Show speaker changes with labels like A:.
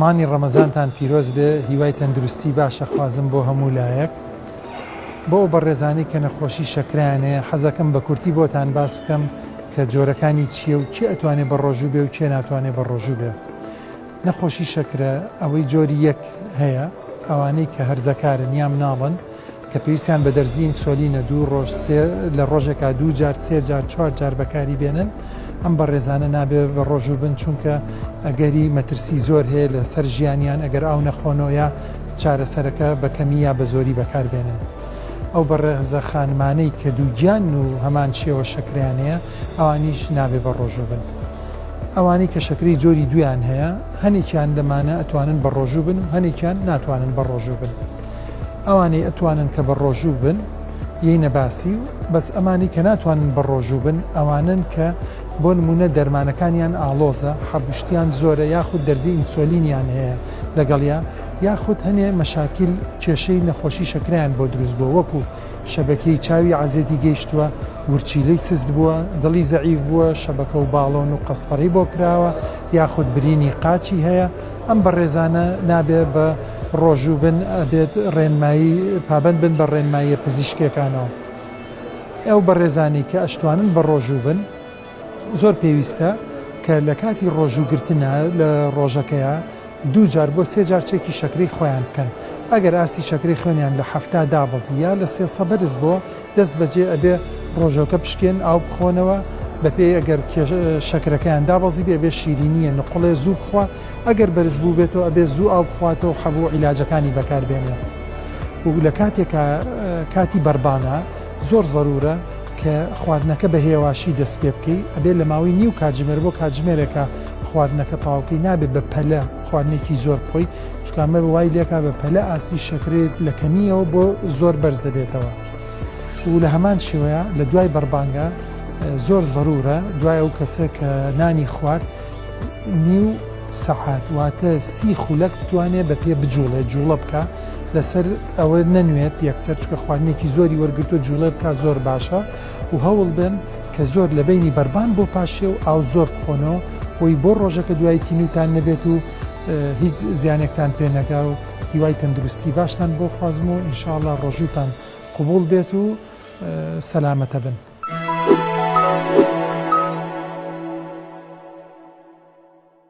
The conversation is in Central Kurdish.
A: مانگی ڕەمەزانتان پیرۆز بێ هیوای تەندروستی باشەخوازم بۆ هەموو لایەک بۆ ئەو بەڕێزانەی کە نەخۆشی شەکرەیان هەیە حەزەکەم بە کورتی بۆتان باس بکەم کە جۆرەکانی چییە و کێ ئەتوانێ بە ڕۆژوو بێ و کێ ناتوانێ بە ڕۆژوو بێ نەخۆشی شەکرە ئەوەی جۆری یەک هەیە ئەوانەی کە هەرزەکارن یا مناڵن کە پێویستیان بە دەرزیی ئینسۆلینە دوو ڕۆژ سێ لە ڕۆژێکا دوو جار سێ جار چوار جار بەکاری بێنن ئەم بەڕێزانە نابێ بە ڕۆژوو بن چونکە ئەگەری مەترسی زۆر هەیە لەسەر ژیانیان ئەگەر ئاو نەخۆنەوەە چارەسەرەکە بە کەمی یا بە زۆری بەکار بێنن. ئەو بەڕێزە خانمانەی کە دووگیانن و هەمان شێوە شەکرەیان هەیە ئەوانیش نابێ بە ڕۆژوو بن. ئەوانەی کە شەکرەی جۆری دوویان هەیە هەنێکیان لەمانە ئەتوانن بە ڕۆژوو بن و هەنێکیان ناتوانن بە ڕۆژوو بن. ئەوانەی ئەتوانن کە بە ڕۆژوو بن ی نەباسی و بەس ئەمانەی کە ناتوانن بە ڕۆژوو بن ئەوانەن کە بۆ نموونە دەرمانەکانیان ئاڵۆزە حەبوشتیان زۆرە یاخود دەرزی ئینسۆلینیان هەیە لەگەڵیا یاخود هەنێ مەشاکیل کێشەی نەخۆشی شەکرەیان بۆ دروست بووە وەکو شەبەکێی چاوی عەزێتی گەیشتووە ورچیلەی سست بووە دڵی زەعیف بووە شەبەکە و باڵۆن و قەستەڕی بۆ کراوە یاخود برینی قاچی هەیە ئەم بەڕێزانە نابێت بە ڕۆژوو بن ئەبێت ڕێنمایی پابەند بن بە ڕێنماییە پزیشکیەکانەوە ئەو بەڕێزانەی کە ئەشتوانن بە ڕۆژوو بن زۆر پێویستە کە لە کاتی ڕۆژوو گرتنە لە ڕۆژەکەیە دوو جار بۆ سێ جار چێکی شەکری خۆیان بکەن ئەگەر ئاستی شەکری خوێنیان لە حەفتا دابەزی یا لە سێ سە بەرز بۆ دەست بەجێ ئەبێ ڕۆژەوکە بشکێن ئاو بخۆنەوە بەپێی ئەگەر شەکرەکەیان دابەزیبێ ئەبێ شیرینیە نقوڵێ زوو بخوا ئەگەر بەرز بووبێتەوە ئەبێ زوو ئاو بخواتەوە حەبوو عیلاجەکانی بەکار بێنێ و لە کاتێکا کاتی بەربانە زۆر زەرورە کە خواردنەکە بە هێواشی دەست پێ بکەی ئەبێ لە ماوەی نیو کاتژمێر بۆ کاتژمێرێکە خواردنەکە تاوکەی نابێت بە پەلە خواردنێکی زۆر بخۆی چونکە ئەمە وای لێکا بە پەلە ئاستی شەکرەی لە کەمییەوە بۆ زۆر بەرز دەبێتەوە و لە هەمان شێوەیە لە دوای بەربانگە زۆر زەرورە دوای ئەو کەسە کە نانی خوارد نیو سەعات واتە سی خولەک بتوانێت بە پێ بجوڵێت جوڵە بکە لەسەر ئەوە نەنوێت یەکسەر چکە خواردنێکی زۆری وەرگتو جوڵێت کا زۆر باشە و هەوڵ بن کە زۆر لە بینی بەربان بۆ پاشێ و ئاو زۆر بخۆنەوە بۆی بۆ ڕۆژەکە دوایەتی نوتان نەبێت و هیچ زیانێکتان پێ نەگا و هیوای تەندروستی باشتان بۆ خوازم و ئینشاءاللە ڕۆژووتان قوبوڵ بێت و سەلامەتە بن.